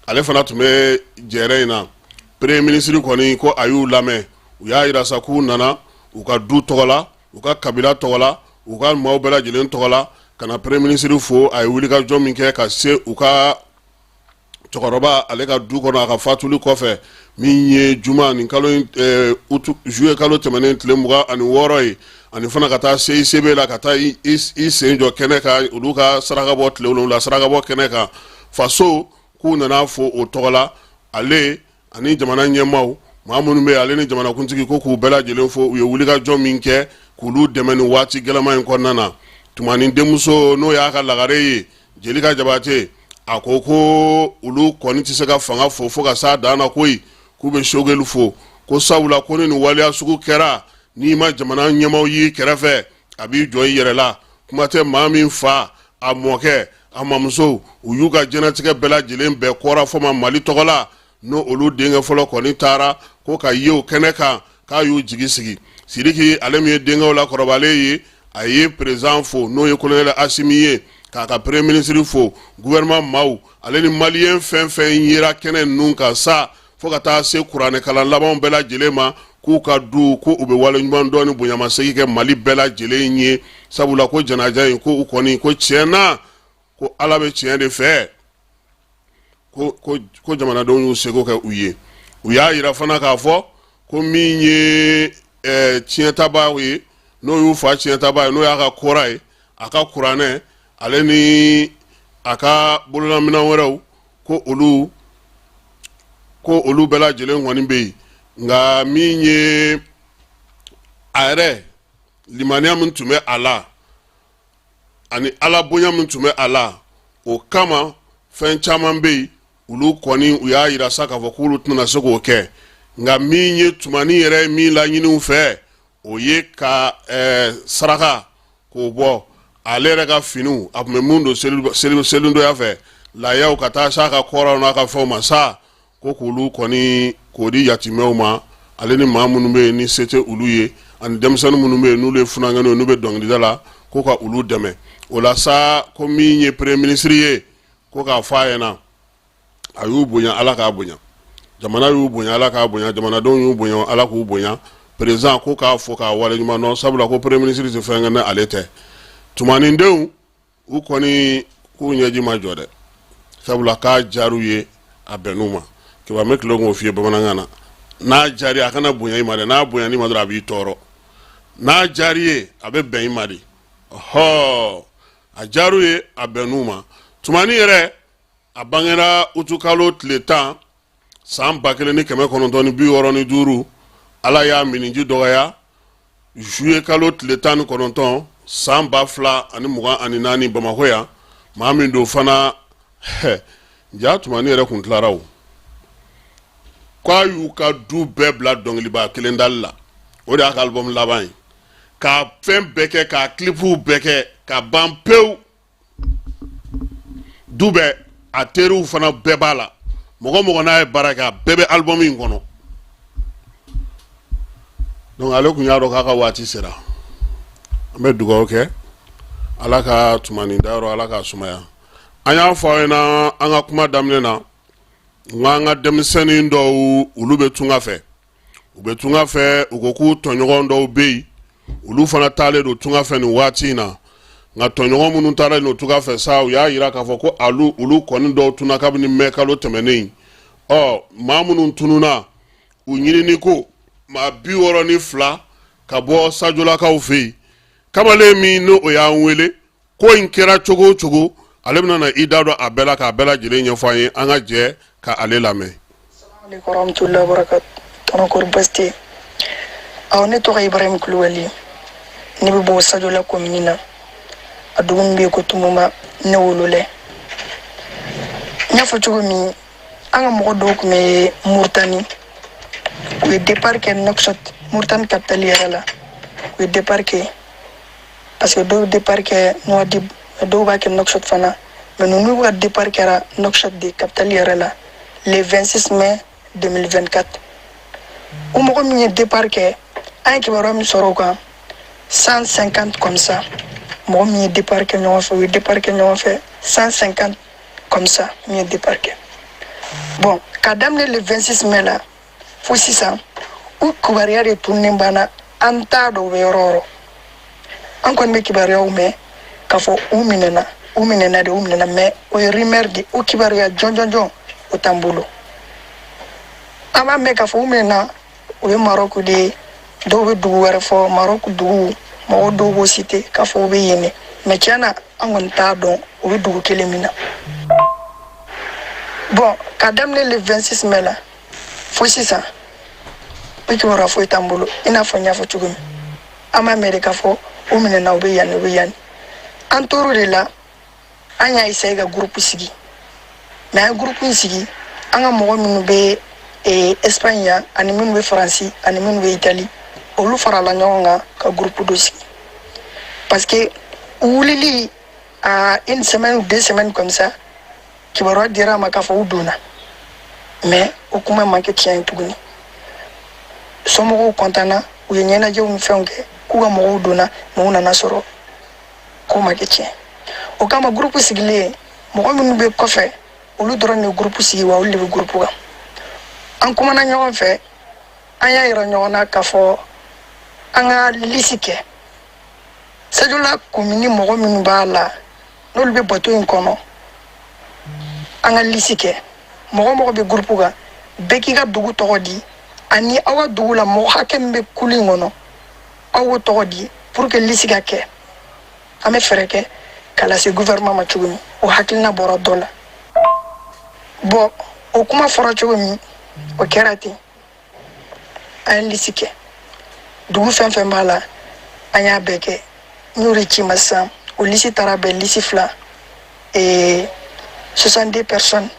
ale fana tun bɛ jɛrɛ in na premier ministre kɔni ko a y'u lamɛn u y'a yira sa k'u nana u ka du tɔgɔ la u ka kabila tɔgɔ la u ka maaw bɛɛ lajɛlen tɔgɔ la ka na premier ministre fo a ye wulikajɔ min kɛ ka se u ka cɛkɔrɔba ale ka du kɔnɔ a ka fatuli kɔfɛ min ye juma nin kalo eh, juillet kalo tɛmɛnen tile mugan ani wɔɔrɔ ye ani fana ka taa CICB la ka taa i sen jɔ kɛnɛ kan olu ka saraka bɔ tile wolonwula saraka bɔ kɛnɛ kan faso k'u nana a fo o tɔgɔ la ale ani jamana ɲɛmaaw maa minnu bɛ ale ni jamanakuntigi ko k'u bɛɛ lajɛlen fo u ye wulikajɔ min kɛ k'olu dɛmɛ nin waati gɛlɛma in kɔnɔna na tumani denmuso n'o y'a ka lagare ye jelika jabatɛ a ko ko olu kɔni tɛ se ka fanga fo fo ka s'a dan na koyi k'u bɛ sogɛli fo ko sabula ko ni nin waleya sugu kɛra n'i ma jamana ɲɛmaaw y'i kɛrɛfɛ a b'i jɔ i yɛrɛ la kuma tɛ maa min fa a mɔkɛ a mamuso u y'u ka jɛnatigɛ bɛɛ lajɛlen bɛɛ kɔra fɔ ma mali tɔgɔ la n'o olu denkɛ fɔlɔ kɔni taara ko k'a ye o kɛnɛ kan k'a y'u jigi sigi sidiki ale min ye denkɛw la kɔrɔbalen ye a ye perezidan fo n'o ye kolonɛlɛ asimi ye k'a ka premier ministre fo guvɛrɛnman maaw ale ni maliyɛn fɛn fɛn yera kɛnɛ ninnu kan sa fo ka taa se kuranɛkalan labanw bɛɛ lajɛlen ma k'u ka du ko u bɛ waleɲuman dɔn ni bonyamasegin kɛ mali bɛɛ lajɛlen ye sabula ko janaja in ko u kɔni ko tiɲɛ na ko ala bɛ tiɲɛ de fɛ ko jamanadenw y'u seko kɛ u ye u y'a yira fana k'a fɔ ko min ye ɛɛ tiɲɛtabaa ye n'o y'u fa tiɲɛtabaa ye n'o y'a ka kora ye a ka kuranɛ ale ni a ka bololaminɛn wɛrɛw ko olu ko olu bɛɛ lajɛlen kɔni bɛ yen nka min ye a yɛrɛ limaniya min tun bɛ a la ani ala bonya min tun bɛ a la o kama fɛn caman bɛ yen olu kɔni u y'a yira sa k'a fɔ k'olu tɛna se k'o kɛ nka min ye tumani yɛrɛ ye min laɲini u fɛ o ye ka saraka k'o bɔ ale yɛrɛ ka finiw a tun bɛ minnu don selidonya fɛ layaw ka taa s'a ka koraw n'a ka fɛnw ma sa ko k'olu kɔni k'o di yatimɛw ma ale ni maa minnu bɛ yen ni se tɛ olu ye ani denmisɛnnin minnu bɛ yen n'olu ye funankɛninw ye n'u bɛ dɔnkilida la ko ka olu dɛmɛ o la sa ko min ye premier ministre ye ko k'a fɔ a ɲɛ na a y'u bonya ala k'a bonya jamana y'u bonya ala k'a bonya jamanadenw y'u bonya ala k'u bonya président ko k'a fɔ k'a wale ɲuman dɔn sabula ko premier ministre tɛ fɛn kɛ ni ale tɛ tumani denw u kɔni k'u ɲɛji ma jɔ dɛ sabula k'a diyar'u ye a bɛnn'u ma kiba bɛ tila k'o f'i ye bamanankan na n'a diyar'i a kana bonya i ma dɛ n'a bonyan'i ma dɔrɔn a b'i tɔɔrɔ n'a diyar'i ye a bɛ bɛn i ma de ɔhɔ a diyar'u ye a bɛnn'u ma tumani yɛrɛ a bangera utukalo tile tan san ba kelen ni kɛmɛ kɔnɔntɔn ni bi wɔɔrɔ ni duuru ala y'a miniji dɔgɔya zuye kalo tile tan ni kɔnɔntɔn san ba fila ani mugan ani naani bamakɔ yan maa min don fana ɛ jaa tumani yɛrɛ kun tilara o k'a y'u ka du bɛɛ bila dɔnkiliba kelen dali la o de y'a ka album laban ye k'a fɛn bɛɛ kɛ k'a kilipuw bɛɛ kɛ ka ban pewu du bɛɛ a teriw fana bɛɛ b'a la mɔgɔ o mɔgɔ n'a ye baara kɛ a bɛɛ bɛ album in kɔnɔ donc ale kun y'a dɔn k'a ka waati sera an bɛ dugawu kɛ ala ka tumani dayɔrɔ ala k'a sumaya an y'a fɔ aw ɲɛna an ka kuma daminɛ na nka an ka denmisɛnnin dɔw olu bɛ tunga fɛ u bɛ tunga fɛ u ko k'u tɔɲɔgɔn dɔw bɛ yen olu fana taalen don tunga fɛ nin waati in na nka tɔɲɔgɔn minnu taara nin tunga fɛ sa u y'a yira k'a fɔ ko alu olu kɔni dɔw tunna kabini mɛ kalo tɛmɛnen ɔ maa minnu tununa u ɲinini ko maa bi wɔɔrɔ ni fila ka bɔ sajolakaw fɛ yen kamalen min n'o y'an wele ko in kɛra cogo o cogo ale bɛna na i da don a bɛɛ la k'a bɛɛ lajɛlen ɲɛfɔ an ye an ka jɛ ka ale lamɛn. asalamu alekum warahmatulahi wabarakatu tɔnɔ kɔri basi tɛ ɔ ne tɔgɔ ibrahim kulubali ne bɛ bɔ sajola komini na a dugu min bɛ yen ko tumuma ne wololɛ n y'a fɔ cogo min an ka mɔgɔ dɔw tun bɛ muritani u ye départ kɛ Nouakchott muritani kapitali yɛrɛ la u ye départ kɛ parce que dɔw départ kɛ Nouadhibou dɔw b'a kɛ Nouakchott fana mais ninnu ka départ kɛra Nouakchott de capitale yɛrɛ la le 26 mai 2024 o mɔgɔ min ye départ kɛ an ye kibaruya min sɔrɔ o kan 150 comme ça mɔgɔ min ye départ kɛ ɲɔgɔn fɛ u ye départ kɛ ɲɔgɔn fɛ 150 comme ça min ye départ kɛ bon ka daminɛ le 26 mai la fo sisan u kibaruya de tununen banna an t'a dɔn u bɛ yɔrɔ o yɔrɔ an kɔni bɛ kibaruyaw mɛn k'a fɔ u minɛna u minɛna de u minɛna mais o ye rumeur de o kibaruya jɔnjɔnjɔn o t'an bolo an b'a mɛn k'a fɔ u minɛna o ye marɔku de ye dɔw bɛ dugu wɛrɛ fɔ marɔku dugu mɔgɔ dɔw b'o citer k'a fɔ u bɛ yen de mais tiɲɛ na an kɔni t'a dɔn u bɛ dugu kelen min na bon ka daminɛ le 26 mai la fo sisan o kibaruya foyi t'an bolo i n'a fɔ n y'a fɔ cogo min an b'a mɛn de k'a fɔ u minɛna u bɛ yanni u bɛ yanni an tor'o de la an y'a essayer ka gurupu sigi mais an ye gurupu in sigi an ka mɔgɔ minnu bɛ eh, espagne yan ani minnu bɛ faransi ani minnu bɛ itali olu farala ɲɔgɔn kan ka gurupu dɔ sigi parce que wulili à une semaine ou deux semaines comme ça kibaruya dira an ma k'a fɔ u donna mais o kuma ma kɛ tiɲɛ ye tuguni somɔgɔw kɔntanna u ye ɲɛnajɛw ni fɛnw kɛ k'u ka mɔgɔw donna mais u nana sɔrɔ k'o ma kɛ tiɲɛ o kama gurupu sigilen mɔgɔ minnu bɛ kɔfɛ olu dɔrɔn de gurupu sigi wa olu de bɛ gurupu kan an kumana ɲɔgɔn fɛ an y'a yira ɲɔgɔn na k'a fɔ an ka lisi kɛ sajola komini mɔgɔ minnu b'a la n'olu bɛ bato in kɔnɔ an ka lisi kɛ mɔgɔ o mɔgɔ bɛ gurupu kan bɛɛ k'i ka dugu tɔgɔ di ani aw ka dugu la mɔgɔ hakɛ min bɛ kulu in kɔnɔ aw k'o tɔgɔ di pour que lisi ka kɛ an bɛ fɛɛrɛ kɛ ka lase gouvernement ma cogo min o hakilina bɔra dɔ la bon o kuma fɔra cogo min o kɛra ten an ye lisi kɛ dugu fɛn fɛn b'a la an y'a bɛɛ kɛ n y'o de ci i ma sisan o lisi taara bɛn lisi fila ee 62 personnes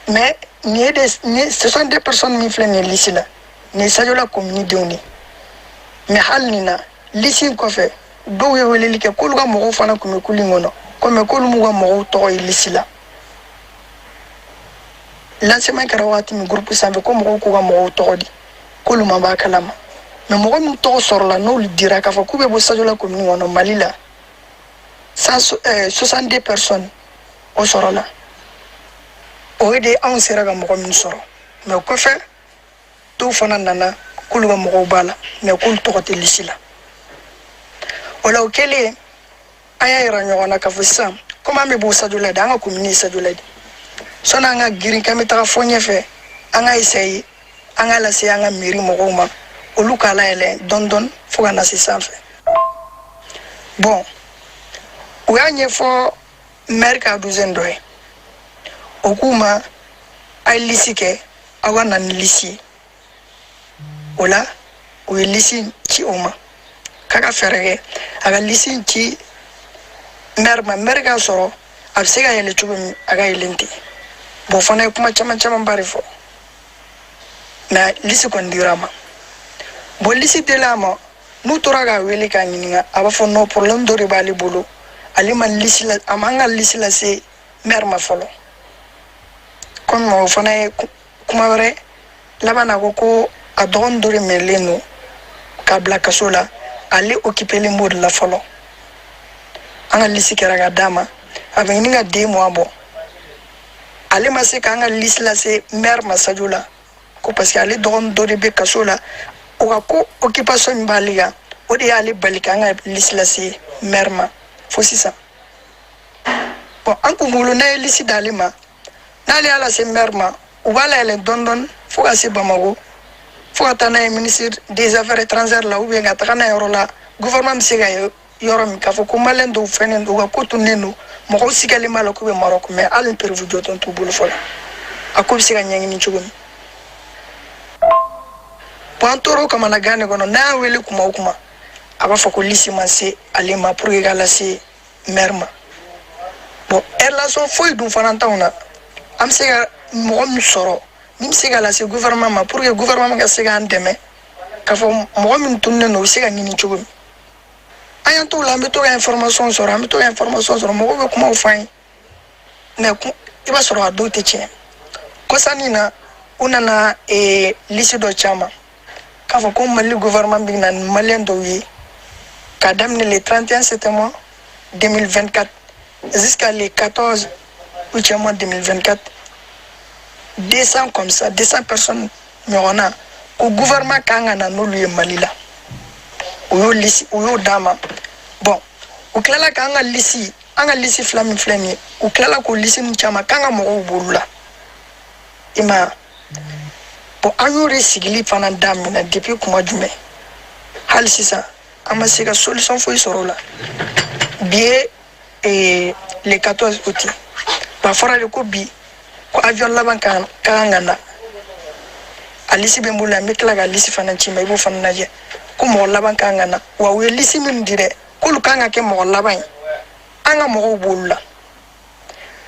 mais nin ye de nin ye 62 personnes min filɛ nin ye lisi la nin ye sajola komini denw de ye mais hali nin na lisi in kɔfɛ dɔw ye weleli kɛ k'olu ka mɔgɔw fana tun bɛ kulu in kɔnɔ kɔmi k'olu m'u ka mɔgɔw tɔgɔ ye lisi la lancement kɛra wagati min groupe sanfɛ ko mɔgɔw k'u ka mɔgɔw tɔgɔ di k'olu ma b'a kalama mais mɔgɔ min tɔgɔ sɔrɔla n'olu dira k'a fɔ k'u bɛ bɔ sajola commune kɔnɔ mali la 62 personnes o sɔrɔla o ye de anw sera ka mɔgɔ min sɔrɔ mais o kɔfɛ dɔw fana nana k'olu ka mɔgɔw b'a la mais k'olu tɔgɔ tɛ lisi la o la o kɛlen an y'a yira ɲɔgɔn na k'a fɔ sisan komi an bɛ bɔ sajola de an ka komini ye sajola de sɔni an ka girin k'an bɛ taga fɔ ɲɛfɛ an ka esaye an k'a lase an ka mɛri mɔgɔw ma olu k'a layɛlɛ dɔɔni dɔɔni fo ka na se sanfɛ bɔn u y'a ɲɛfɔ mɛri ka adjoint dɔ ye o k'u ma a ye lisi kɛ aw ka na ni lisi ye o la u ye lisi ci o ma k'a ka fɛɛrɛ kɛ a ka lisi ci mɛri ma mɛri k'a sɔrɔ a bɛ se ka yɛlɛ cogo min a ka yɛlɛn ten bɔn fana ye kuma caman camanba de fɔ mɛ lisi kɔni dira a ma bɔn lisi dilen a ma n'u tora k'a wele k'a ɲininka a b'a fɔ nɔ porobilɛmu dɔ de b'ale bolo ale ma lisi la a m'an ka lisi lase mɛri ma fɔlɔ kɔmi o fana ye kuma wɛrɛ laban na ko ko a dɔgɔnin dɔ de minɛlen don k'a bila kaso la ale okipelen b'o de la fɔlɔ an ka lisi kɛra ka d'a ma a bɛ ɲini ka 2 mois bɔ ale ma se k'an ka lisi lase mɛri ma sajola ko parce que ale dɔgɔnin dɔ de bɛ kaso la o ka ko okipasɔn min b'ale kan o de y'ale bali k'an ka lisi lase mɛri ma fo sisan bɔn an kun bolo n'an ye lisi d'ale ma n'ale y'a lase maire ma u b'a layɛlɛn dɔɔni dɔɔni fo ka se bamako fo ka taa n'a ye ministre des affaires étrangères la ou bien ka taga n'a ye yɔrɔ la gouvernement bɛ se k'a ye yɔrɔ min k'a fɔ ko maliyɛn dɔw fɛnnen don u ka ko tunnen don mɔgɔw sigalen b'a la k'u bɛ marɔku mɛ hali ni preuve jɔnjɔn t'u bolo fɔlɔ a ko bɛ se ka ɲɛɲini cogo min bɔn an tor'o kamanagan de kɔnɔ n'an y'a wele kuma o kuma a b'a fɔ ko lisi ma se ale ma pour que k'a lase mɛri ma bɔn relation foyi dun fana t'anw na an be se ka mɔgɔ min sɔrɔ min be se ka lase guvɛrɛnman ma pour que guvɛrɛnman ka se k'an dɛmɛ k'a fɔ mɔgɔ min tununnen don o be se ka ɲini cogo min an y'an t'o la an be to ka information sɔrɔ an be to ka information sɔrɔ mɔgɔw be kumaw f'an ye mais i b'a sɔrɔ a dɔw tɛ tiɲɛ kɔsannin na u nana ee lisi dɔ ci an ma k'a fɔ ko mali gouvernement bɛ na ni maliyɛn dɔw ye k'a daminɛ le 31 septième mois 2024 jusqu'à le 14 août 2024 200 comme ça 200 personnes ɲɔgɔn na ko gouvernement ka kan ka na n'olu ye mali la u y'o lisi u y'o d'an ma bɔn u tilala k'an ka lisi an ka lisi fila min filɛ nin ye u tilala k'o lisi min ci an ma k'an ka mɔgɔw b'olu la i m'a ye bɔn an y'o de sigili fana daminɛ depuis kuma jumɛn hali sisan an ma se ka solution foyi sɔrɔ o la bi ye eh, le 14 août ye. ba fɔra de ko bi ko avion laban ka kan ka kan ka na a lisi bɛ n bolo yan n bɛ tila ka lisi fana ci i ma i b'o fana lajɛ ko mɔgɔ laban ka kan ka na wa u ye lisi minnu di dɛ k'olu ka kan ka kɛ mɔgɔ laban ye an ka mɔgɔw b'olu la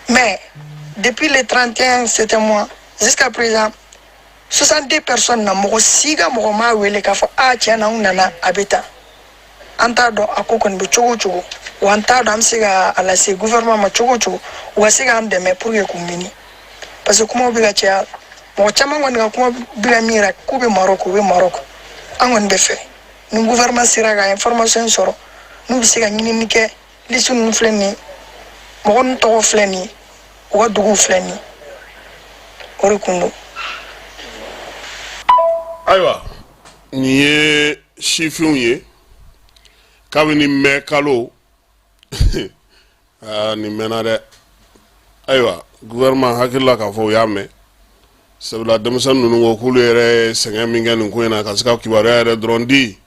Mais, depuis le 31 septième mois jusqu'à présent, 62 personnes na mɔgɔ si ka mɔgɔ m'a wele k'a fɔ a tiɲɛ na n nana a bɛ tan an t'a dɔn a ko kɔni bɛ cogo o cogo wa an t'a dɔn an bɛ se ka a lase gouvernement ma cogo o cogo u ka se k'an dɛmɛ pour que k'u ɲini parce que kumaw bɛ ka caya mɔgɔ caman kɔni ka kuma bɛ ka min yira k'u bɛ marɔku u bɛ marɔku an kɔni b'a fɛ ni gouvernement sera ka information sɔrɔ n'u bɛ se ka ɲinini kɛ lisi ninnu filɛ nin ye mɔgɔ ninnu tɔgɔ filɛ nin ye u ka duguw filɛ nin ye o de kun don ayiwa nin ye sifinw ye kabini mɛ kalo ah, nin mɛnna dɛ ayiwa gouvernement hakilila k'a fɔ u y'a mɛn sabula denmisɛnnin ninnu ko k'olu yɛrɛ sɛgɛn min kɛ nin ko in na ka se ka kibaruya yɛrɛ dɔrɔn di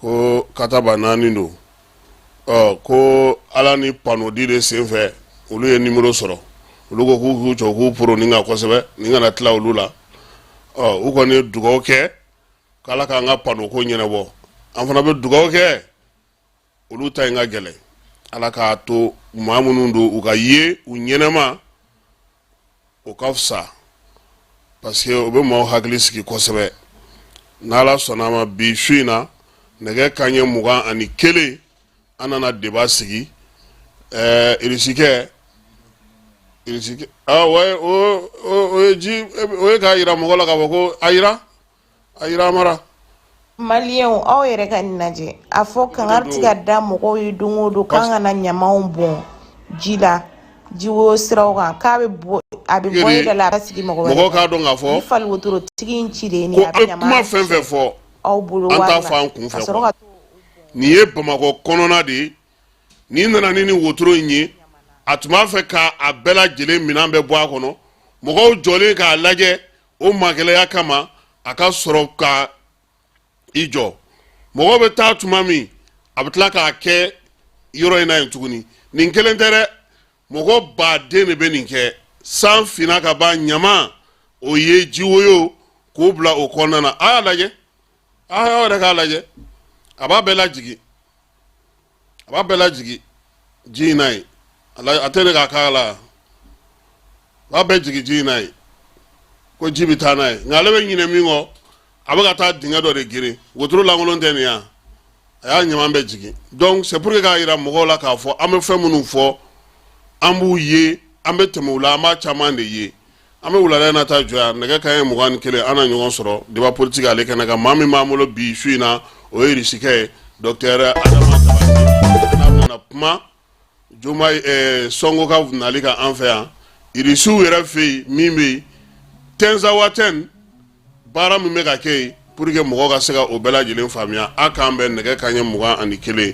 ko kataba naani don ko ala ni panodi de sen fɛ olu ye numéro sɔrɔ olu ko k'u k'u jɔ k'u poro nin kan kosɛbɛ nin kana tila olu la u kɔni ye dugaw kɛ k' ala k'an ka pano ko ɲɛnabɔ an fana bɛ dugaw kɛ olu ta in ka gɛlɛn ala k'a to maa minnu don u ka ye u ɲɛnama o ka fisa parce que o bɛ maaw hakili sigi kosɛbɛ n' ala sɔnna a ma bi su in na nɛgɛ kanɲɛ mugan ani kelen an nana débat sigi ɛɛ irisikɛ irisikɛ o ye ji o ye k'a yira mɔgɔ la k'a fɔ ko a yira a yira maa la maliyɛnw aw yɛrɛ ka nin lajɛ a fɔ kangari tɛ ka da mɔgɔw ye don o don k'an kana ɲamanw bɔn ji la jiwo siraw kan k'a bɛ bɔ a bɛ bɔ e da la a ka sigi mɔgɔ wɛrɛ mɔgɔw k'a dɔn k'a fɔ ni fali wotorotigi in ci de ye nin ko ye a bɛ an ɲama kuma fɛn o fɛn fɔ aw bolo an wari t'a la fɔ an kun ka fɛ sɔrɔ ka nin ye bamakɔ kɔnɔna de ye n'i nana ni nin wotoro in ye a tun b'a fɛ ka a bɛɛ lajɛlen minɛn bɛɛ bɔ a kɔnɔ mɔgɔw jɔlen k'a lajɛ o magɛlɛya kama a ka sɔrɔ ka i jɔ mɔgɔw bɛ taa tuma min a bɛ tila k'a kɛ yɔrɔ in na yen tuguni nin kelen tɛ dɛ mɔgɔ baden de bɛ nin kɛ san finna ka ban ɲaman o ye jiwoyo k'o bila o kɔnɔna na a y'a lajɛ a y'aw yɛrɛ k'a lajɛ a b'a bɛɛ lajigin a b'a bɛɛ lajigin ji in na yen a la- a tɛ ne k'a k'a la a b'a bɛɛ jigin ji in na yen ko ji bɛ taa n'a ye nka ale bɛ ɲinɛ min kɔ a bɛ ka taa dingɛ dɔ de geren wotoro lankolon tɛ nin yan a y'a ɲaman bɛɛ jigin donc c'est pour que k'a yira mɔgɔw la k'a fɔ an bɛ fɛn minnu fɔ an b'u ye an bɛ tɛmɛ u la an b'a caman de ye An bɛ wulada in na ta jɔ yan nɛgɛ kanɲɛ 21 an na ɲɔgɔn sɔrɔ débat politique ale kɛnɛ kan maa min b'an bolo bi su in na o ye Irisikɛ ye docteur Adama Diabaté n'a bɛna kuma Diomaye ɛɛ Sonko ka nali kan an fɛ yan Irisiw yɛrɛ fɛ yen min bɛ yen Tɛnzawatɛni baara min bɛ ka kɛ yen pour que mɔgɔw ka se ka o bɛɛ lajɛlen faamuya a k'an bɛn nɛgɛ kanɲɛ mugan ani kelen